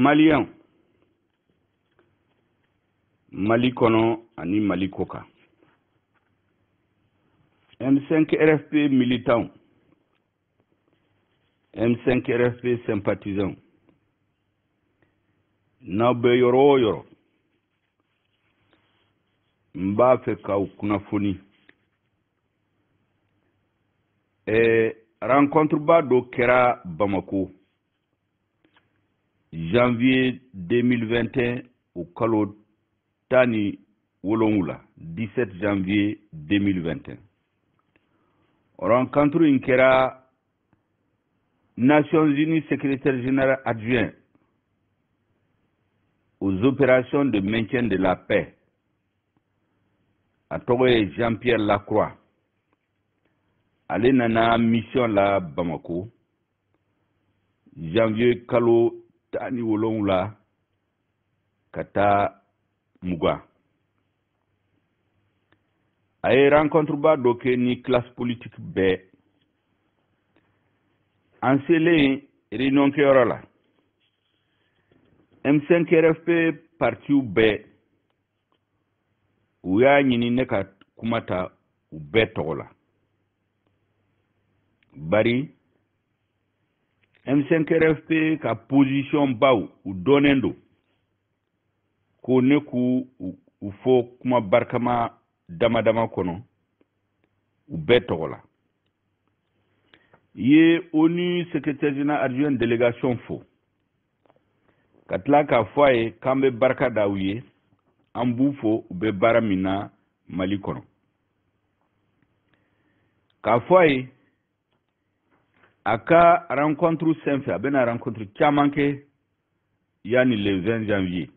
maliyɛnw mali kɔnɔ ani mali kɔkan m5 rfp militanw m5 rfp sympathisants n'aw bɛ yɔrɔ o yɔrɔ n b'a fɛ k'aw kunnafoni eh, rencontreba dɔ kɛra bamako janvier 2021 o kalo tan ni wolonwula 17 janvier 2021 o rencontre in kɛra nations unies secrétaire général adjoint aux opérations de maintien de la paix a tɔgɔ ye jean pierre lacroix ale nana mission la bamako janvier kalo tan ni wolonwula ka taa mugan a ye rencontreba dɔ kɛ ni classe politique bɛɛ an selen réunion kɛyɔrɔ la M5RFP partiw bɛɛ u y'a ɲini ne ka kuma ta u bɛɛ tɔgɔ la bari M5RFP ka position baw u dɔnnen don ko ne k'u u fɔ kuma barikama dama dama kɔnɔ u bɛɛ tɔgɔ la n ye onu secrétaire général adjoint délégation fo ka tila k'a fɔ a ye k'an bɛ barika da u ye an b'u fo u bɛ baara min na mali kɔnɔ k'a fɔ a ye a ka rencontre senfɛ a bɛna rencontre caman kɛ yanni le 20 janvier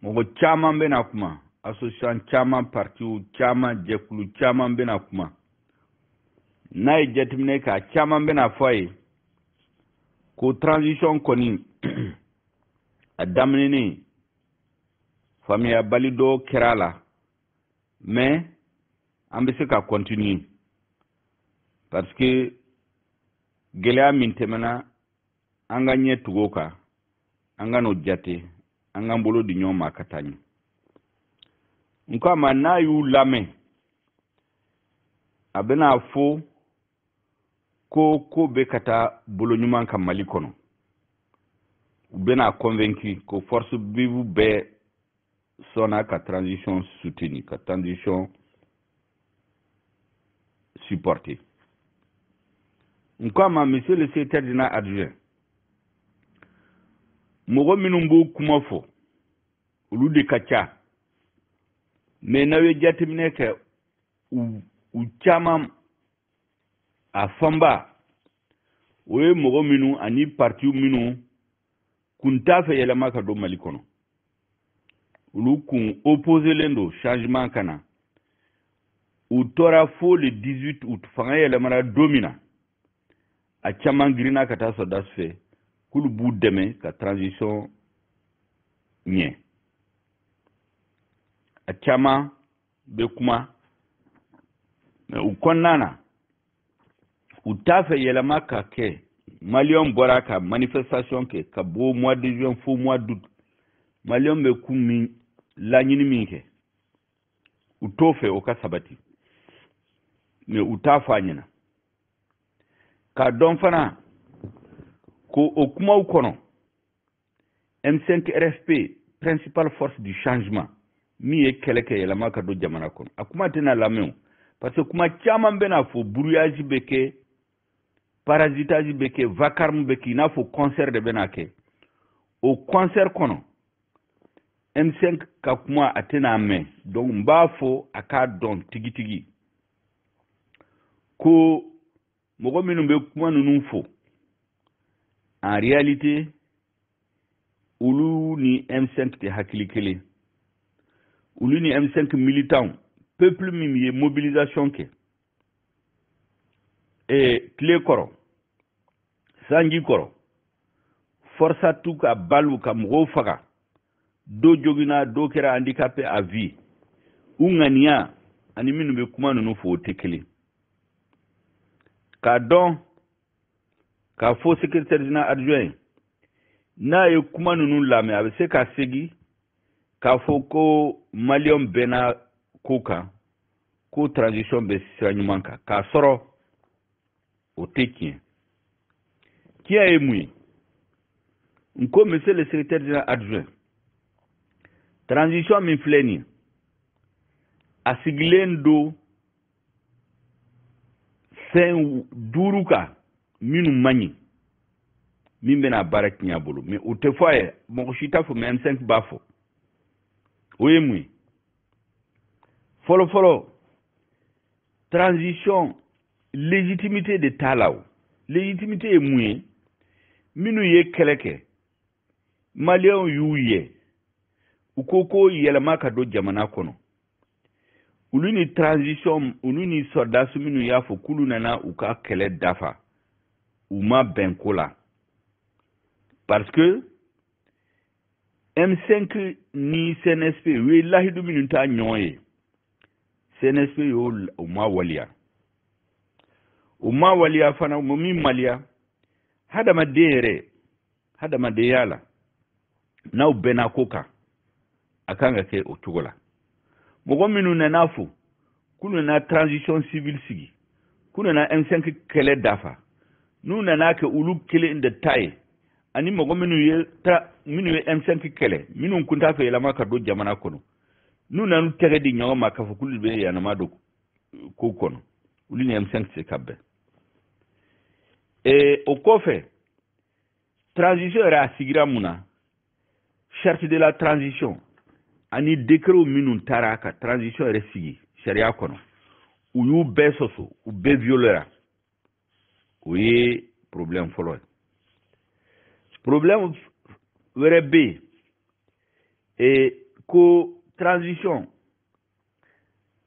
mɔgɔ caman bɛna kuma association caman partiw caman jɛkulu caman bɛna kuma n'a ye jateminɛ kɛ a caman bɛn'a fɔ a ye ko transition kɔni a daminɛnen faamuyabali dɔ kɛra a la mais an bɛ se ka continuer parce que gɛlɛya min tɛmɛna an k'an ɲɛ tugu o kan an kan'o jate an k'an bolo di ɲɔgɔn ma ka taa ɲɛ n ko a ma n'a y'u lamɛn a bɛn'a fɔ ko ko bɛ ka taa bolo ɲuman kan mali kɔnɔ u bɛna convaincu ko forces vives bɛɛ sɔnna ka transition soutenir ka transition supporter n ko a ma monsieur le secrétaire général adjoint mɔgɔ minnu b'o kuma fɔ olu de ka ca mais n'aw ye jateminɛ kɛ u caman a fanba o ye mɔgɔ minnu ani partiw minnu kun t'a fɛ yɛlɛma ka don mali kɔnɔ olu kun opposelen don changement ka na u tora fo le 18 août fanga yɛlɛmana don min na a caman girinna ka taa sɔrɔdasiw fɛ k'olu b'u dɛmɛ ka transition ɲɛ a caman bɛ kuma mais u kɔnɔna na u t'a fɛ yɛlɛma ka kɛ maliyɛnw bɔra ka manifestation kɛ ka bɔ mois de juin fo mois d'août maliyɛnw bɛɛ kun bɛ laɲini min kɛ u t'o fɛ o ka sabati mais u t'a fɔ a ɲɛ na k'a dɔn fana ko o kumaw kɔnɔ M5 RFP principale force du changement min ye kɛlɛ kɛ yɛlɛma ka don jamana kɔnɔ a kuma tɛna lamɛn o parce que kuma caman bɛna fɔ brouillage bɛ kɛ parasitage bɛ kɛ vacarme bɛ kɛ i n'a fɔ concert de bɛna kɛ o concert kɔnɔ M5 ka kuma a tɛna mɛn donc n b'a fɔ a k'a dɔn tigitigi ko mɔgɔ minnu bɛ kuma ninnu fɔ en réalité olu ni M5 tɛ hakili kelen olu ni M5 militants peuple min ye mobilisation kɛ ee tile kɔrɔ sanji kɔrɔ FORSAT u ka balles ka mɔgɔw faga dɔw joginna dɔw kɛra handicapé à vie u ŋaniya ani minnu bɛ kuma ninnu fɔ o tɛ kelen k'a dɔn k'a fɔ secrétaire général adjoint n'a ye kuma ninnu lamɛn a bɛ se ka segin k'a fɔ ko maliyɛnw bɛnna ko kan ko transition bɛ sira ɲuman kan k'a sɔrɔ o tɛ tiɲɛ tiɲɛ ye mun ye n ko monsieur le secrétaire général adjoint transition min filɛ nin ye a sigilen don fɛn duuru kan minnu man ɲi min bɛna baara tiɲɛ a bolo mais o tɛ fɔ a ye mɔgɔ si t'a fɔ mais m5 b'a fɔ o ye mun ye fɔlɔfɔlɔ transition légitimité de t'a la o légitimité ye mun ye minnu ye kɛlɛ kɛ maliyɛnw y'u ye u ko ko yɛlɛma ka don jamana kɔnɔ olu ni transition olu ni sɔrɔdasi minnu y'a fɔ k'olu nana u ka kɛlɛ dafa u ma bɛn ko la parce que M5 ni CNSP u ye lahidu minnu ta ɲɔgɔn ye CNSP y'o u ma waleya u ma waleya fana u ma min waleya hadamaden yɛrɛ hadamadenya la n'aw bɛnna ko kan a kan ka kɛ o cogo la mɔgɔ minnu nana a fɔ k'u nana transition civile sigi k'u nana m5 kɛlɛ dafa n'u nana kɛ olu kelen de ta ye ani mɔgɔ minnu ye ta minnu ye m5 kɛlɛ minnu tun t'a fɛ yɛlɛma ka don jamana kɔnɔ n'u nan'u tɛgɛ di ɲɔgɔn ma k'a fɔ k'olu bɛ yɛlɛma don ko kɔnɔ olu ni m5 tɛ se ka bɛn ee o kɔfɛ transition yɛrɛ a sigira mun na charte de la transition ani décret minnu tara ka transition yɛrɛ sigi sariya kɔnɔ u y'u bɛɛ sɔsɔ u bɛɛ violera o ye problème fɔlɔ ye problème wɛrɛ bɛ yen e ko transition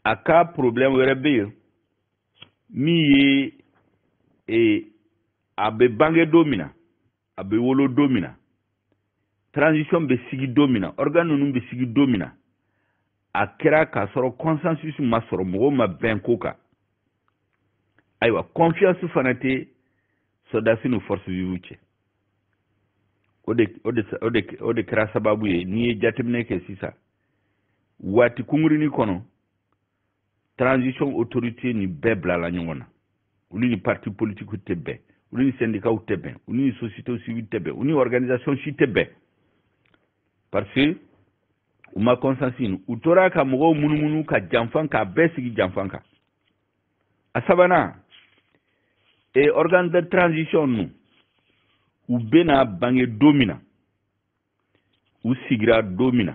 a ka problème wɛrɛ bɛ yen min ye ee a bɛ bange don min na a bɛ wolo don min na transition bɛ sigi don min na organe ninnu bɛ sigi don min na a kɛra k'a sɔrɔ consensus ma sɔrɔ mɔgɔw ma bɛn ko kan ayiwa confiance fana tɛ sɔrɔdasi ni forces vives cɛ o de o de o de o de kɛra sababu ye n'i ye jateminɛ kɛ sisan waati kunkurunin kɔnɔ transition autorité ni bɛɛ bilala ɲɔgɔn na olu ni parti politique tɛ bɛn olu ni syndicats tɛ bɛn olu ni société civile tɛ bɛn olu ni organisation si tɛ bɛn parce que u ma consensus ɲini u tora ka mɔgɔw munumunu ka janfa k'a bɛɛ sigi janfa kan a sabanan e organe de transition ninnu u bɛna bange don min na u sigira don min na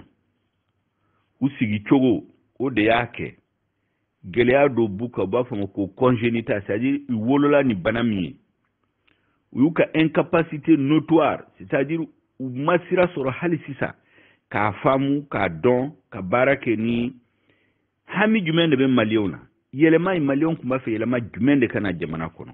u sigi cogo o de y'a kɛ gɛlɛya dɔ b'u kan u b'a fɔ a ma ko congénital c'est à dire u wolola ni bana min ye u y'u ka incapacité notoire c'est à dire u ma sira sɔrɔ hali sisan k'a faamu k'a dɔn ka baara kɛ ni hami jumɛn de bɛ maliyɛnw na yɛlɛma in maliyɛnw tun b'a fɛ yɛlɛma jumɛn de ka na jamana kɔnɔ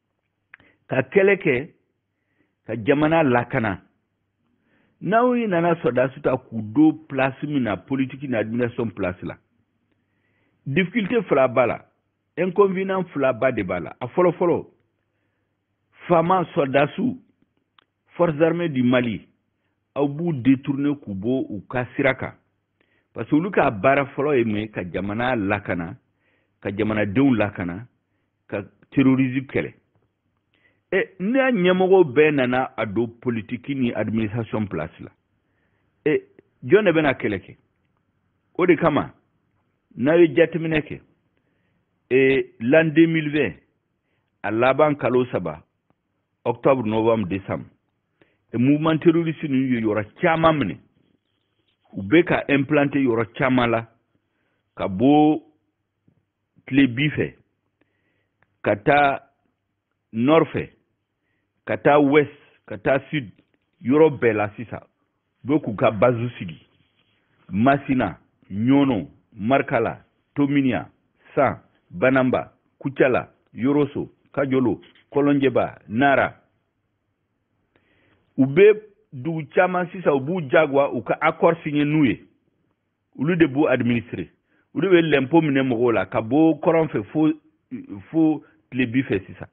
ka kɛlɛ kɛ ka jamana lakana n'aw ye nana sɔrɔdasiw ta k'u don pilasi min na politiki ni administration pilasi la difficulté fila b'a la inconvénient fila ba de b'a la a fɔlɔ fɔlɔ fama sɔrɔdasiw forces armées du mali aw b'u détourner k'u bɔ u ka sira kan parce que olu ka baara fɔlɔ ye mun ye ka jamana lakana ka jamanadenw lakana ka terrorisme kɛlɛ e n'a ɲɛmɔgɔ bɛɛ nana a don politiki ni administration place la e jɔn de bɛna kɛlɛ kɛ o de kama n'a ye jateminɛ kɛ e l'an 2020 a laban kalo saba octobre novembre décembre e mouvement terroriste ninnu ye yɔrɔ caman minɛ u bɛ ka implanter yɔrɔ caman la ka bɔ tilebi fɛ ka taa nord fɛ ka taa ouest ka taa sud yɔrɔ bɛɛ la sisan u bɛ k'u ka bazu sigi masina ɲɔnɔ markala tominiyan san bananba kucala yoroso kajolo kɔlɔnjɛba nara u bɛ dugu caman sisan u b'u jagoya u ka accord signer n'u ye olu de b'u administrer olu bɛ lɛnpo minɛ mɔgɔw la ka bɔ kɔrɔn fɛ fo fo tilebi fɛ sisan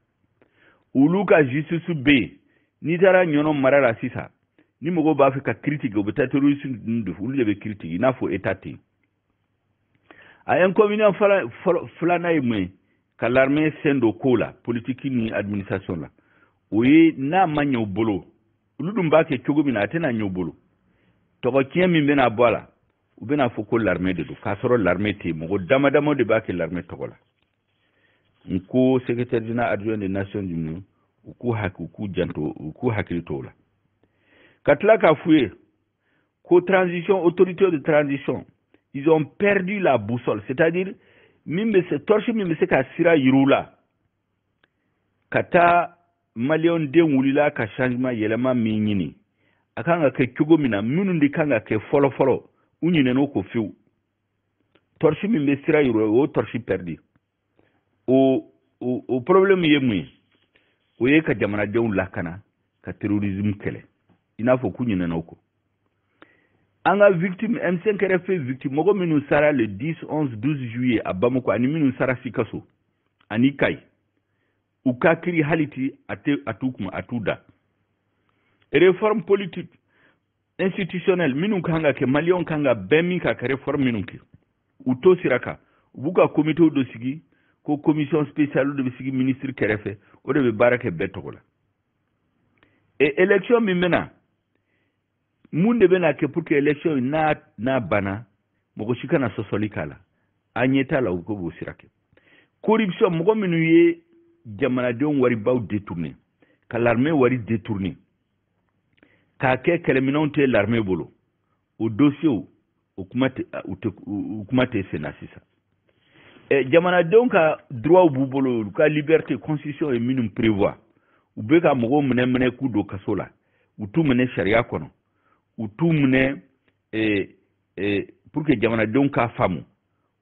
olu ka justice bɛ yen n'i taara ɲɔnɔ mara la sisan ni mɔgɔw b'a fɛ ka kiri tigɛ u bɛ taa terroriste ninnu de fɛ olu de bɛ kiri tigɛ i n'a fɔ état ten a inconvénient filanan ye mun ye ka l'armée sen don ko la politiki ni administration la o ye n'a ma ɲɛ u bolo olu dun b'a kɛ cogo min na a tɛna ɲɛ u bolo tɔgɔ tiɲɛ min bɛna bɔ a la u bɛna a fɔ ko larime de don k'a sɔrɔ larime tɛ yen mɔgɔ dama dama de b'a kɛ larime tɔgɔ la n ko secrétaire général adjoint des nations unies u k'u hakili k'u janto u k'u hakili to o la ka tila k'a f'u ye ko transition autorité de transition ils ont perdu la boussole c'est-à-dire min bɛ se torche min bɛ se ka sira yira u la ka taa maliyɛndenw wulila ka changement yɛlɛma min ɲini a kan ka kɛ cogo min na minnu de kan ka kɛ fɔlɔfɔlɔ u ɲinɛn'o kɔ fewu tɔrisi min bɛ sira yira o tɔrisi pɛridi o o o problème ye mun ye o ye ka jamanadenw lakana ka terrorisme kɛlɛ i n'a fɔ k'u ɲinɛna o kɔ an ka victime M5 RFP victime mɔgɔ minnu sara le 10 11 12 juillet à Bamako ani minnu sara Sikaso ani Kayi u ka kiri hali ti a tɛ a t'u kun a t'u da réforme politique institutionnelle minnu kan ka kɛ maliyɛnw kan ka bɛn min ka kɛ réforme minnu kɛ u t'o sira kan u b'u ka komite dɔ sigi ko commission spéciale de bɛ sigi ministre kɛrɛfɛ o de bɛ baara kɛ bɛɛ tɔgɔ la et élection min bɛna mun de bɛna kɛ pour que élection in n'a n'a banna mɔgɔ si kana sɔsɔli k'a la an ɲɛ t'a la k'u b'o sira kan corruption mɔgɔ minnu ye jamanadenw waribaw détourné ka l'armée wari détourné k'a kɛ kɛlɛminɛnw tɛ l'armée bolo o dosiyew o kuma tɛ u tɛ u kuma tɛ sen na sisan ɛ jamanadenw ka droits b'u bolo olu ka liberté constitution ye minnu prévoir u bɛ ka mɔgɔw minɛ minɛ k'u don kaso la u t'u minɛ sariya kɔnɔ u t'u minɛ ee ee pour que jamanadenw k'a faamu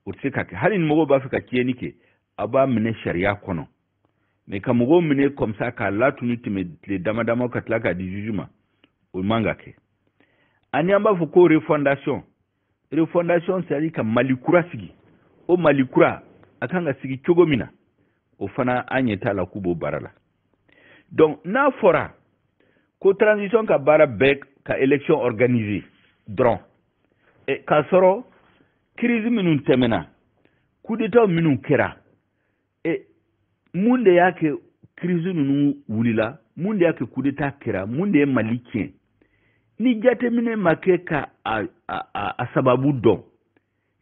o tɛ se ka kɛ hali ni mɔgɔw b'a fɛ ka tiɲɛni kɛ a b'a minɛ sariya kɔnɔ mais ka mɔgɔw minɛ comme ça k'a latunun tɛmɛ tile dama dama ka tila k'a di juge ma o man kan ka kɛ ani an b'a fɔ ko refondation refondation c'est ka mali kura sigi o mali kura a kan ka sigi cogo min na o fana an ɲɛ t'a la k'u b'o baara la donc n'a fɔra ko transition ka baara bɛɛ ka élection organiser dɔrɔn e, k'a sɔrɔ kirisi minnu tɛmɛna kudetaw minnu kɛra e, mun de y'a kɛ kirisi ninnu wulila mun de y'a kɛ kudeta kɛra mun de ye mali tiɲɛ ni jateminɛ ma kɛ ka a, a, a, a sababu dɔn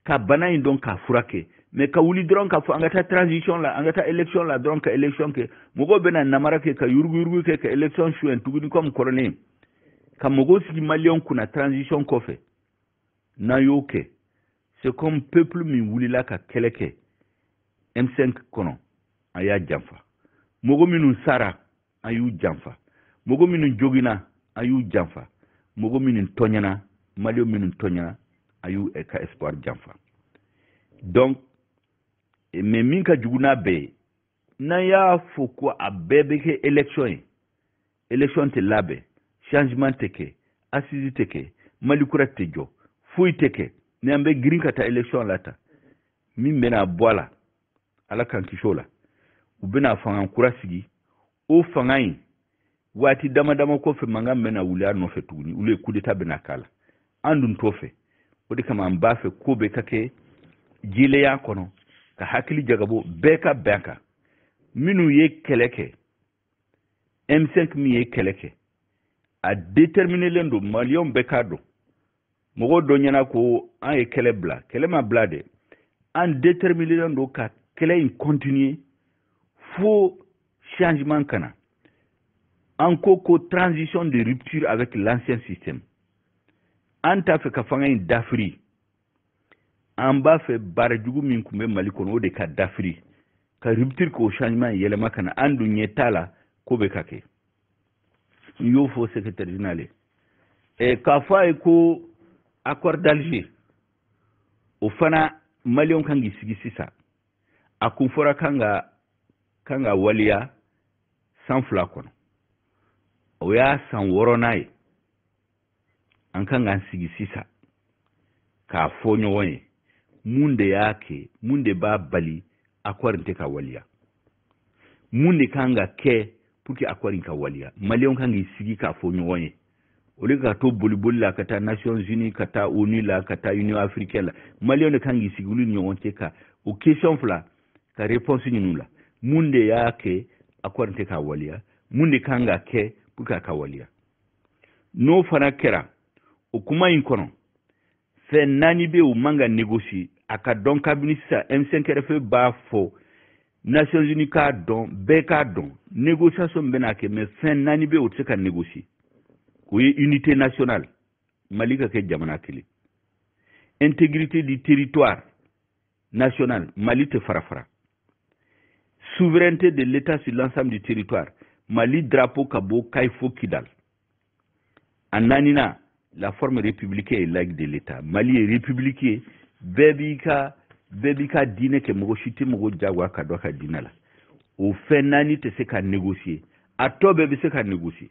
ka bana in dɔn k'a furakɛ mais ka wuli dɔrɔn k'a fɔ an ka taa transition la an ka taa élection la dɔrɔn ka élection kɛ mɔgɔw bɛna namara kɛ ka yuruguyurugu kɛ ka élection soɲɛ tuguni comme kɔrɔlen ka mɔgɔw sigi maliyɛnw kunna transition kɔfɛ n'an y'o kɛ c'est comme peuple min wulila ka kɛlɛ kɛ M5 kɔnɔ an y'a janfa mɔgɔ minnu sara an y'u janfa mɔgɔ minnu jogina an y'u janfa mɔgɔ minnu tɔɲɛna maliyɛn minnu tɔɲɛna an y'u eh, ka espoir janfa donc eh, mais min ka jugu n'a bɛɛ ye n'an y'a fɔ ko a bɛɛ bɛ kɛ élection ye élection tɛ labɛn changement tɛ kɛ assise tɛ kɛ mali kura tɛ jɔ foyi tɛ kɛ ni an bɛ girin ka taa élection la ta min bɛna bɔ a la ala k'an kisi o la u bɛna fanga kura sigi o fanga in waati dama dama kɔfɛ mankan bɛna wuli a nɔfɛ tuguni ou bien kudeta bɛna k'a la an dun t'o fɛ o de kama an b'a fɛ ko bɛɛ ka kɛ jɛlenya kɔnɔ ka hakili jagabɔ bɛɛ ka bɛn kan minnu ye kɛlɛ kɛ M5 min ye kɛlɛ kɛ a déterminelen don maliyɛnw bɛɛ k'a dɔn mɔgɔ dɔw ɲɛna ko an ye kɛlɛ bila kɛlɛ ma bila dɛ an déterminelen don ka kɛlɛ in continuer fo changement ka na an ko ko transition de rupture avec l'ancien système an t'a fɛ ka fanga in dafiri an b'a fɛ baara jugu min tun bɛ mali kɔnɔ o de ka dafiri ka rupture k'o changement yɛlɛma ka na an dun ɲɛ t'a la k'o bɛ ka kɛ n y'o fɔ secrétaire général ye eh, k'a fɔ a ye ko accord d'alger o fana maliyɛnw kan k'i sigi sisan a kun fɔra k'a ka kan ka waleya san fila kɔnɔ o y'a san wɔɔrɔnan ye an kan k'an sigi sisan k'a fɔ ɲɔgɔn ye mun de y'a kɛ mun de b'a bali accord tɛ ka waliya mun de kan ka kɛ pour que accord ka waliya maliyɛnw kan k'i sigi k'a fɔ ɲɔgɔn ye au lieu ka to boliboli la ka taa nations unies ka taa onu la ka taa union africaine la maliyɛnw de kan k'i sigi olu ni ɲɔgɔn cɛ ka o question fila ka réponse ɲini la mun de y'a kɛ accord tɛ ka waliya mun de kan ka kɛ pour que a ka waliya n'o fana kɛra o kuma in kɔnɔ fɛn naani bɛ o man ka négocier a ka dɔn kabini sisan m5 rfp b'a fɔ nations unies k'a dɔn bɛɛ k'a dɔn négociation min bɛna kɛ mais fɛn naani bɛ o tɛ se ka négocier o ye unité nationale mali ka kɛ jamana kelen intégrité du territoire national mali tɛ farafara souveraineté de l'état sur l'ensemble du territoire mali drapeau ka bɔ kayi fo kidal a naaninan la forme républicaine et laïque de l'état mali ye république ye bɛɛ b'i ka bɛɛ b'i ka diinɛ kɛ mɔgɔ si tɛ mɔgɔ jagoya ka don a ka diinɛ la o fɛn naani tɛ se ka négocier a tɔ bɛɛ bɛ se ka négocier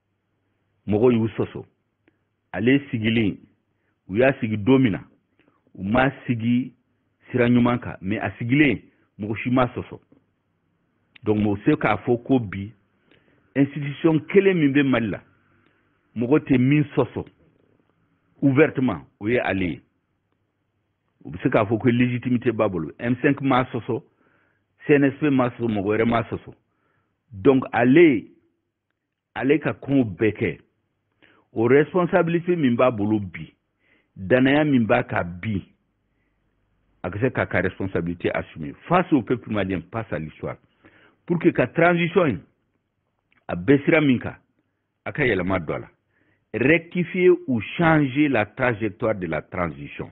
mɔgɔw y'u sɔsɔ ale sigilen u y'a sigi don min na u m'a sigi sira ɲuman kan mais a sigilen mɔgɔ si m'a sɔsɔ donc mɔgɔ se k'a fɔ ko bi institution kelen min bɛ mali la mɔgɔ tɛ min sɔsɔ ouvertement o ye ale ye u bɛ se k'a fɔ ko légitimité b'a bolo m5 m'a sɔsɔ cnsp m'a sɔsɔ mɔgɔ wɛrɛ m'a sɔsɔ donc ale ale ka kow bɛɛ kɛ o responsabilité min b'a bolo bi danaya min b'a kan bi a ka se k'a ka responsabilité assumer face au peuple malien face à l'histoire pour que ka transition in a bɛ sira min kan a ka yɛlɛma don a la rectifier ou changer la trajectoire de la transition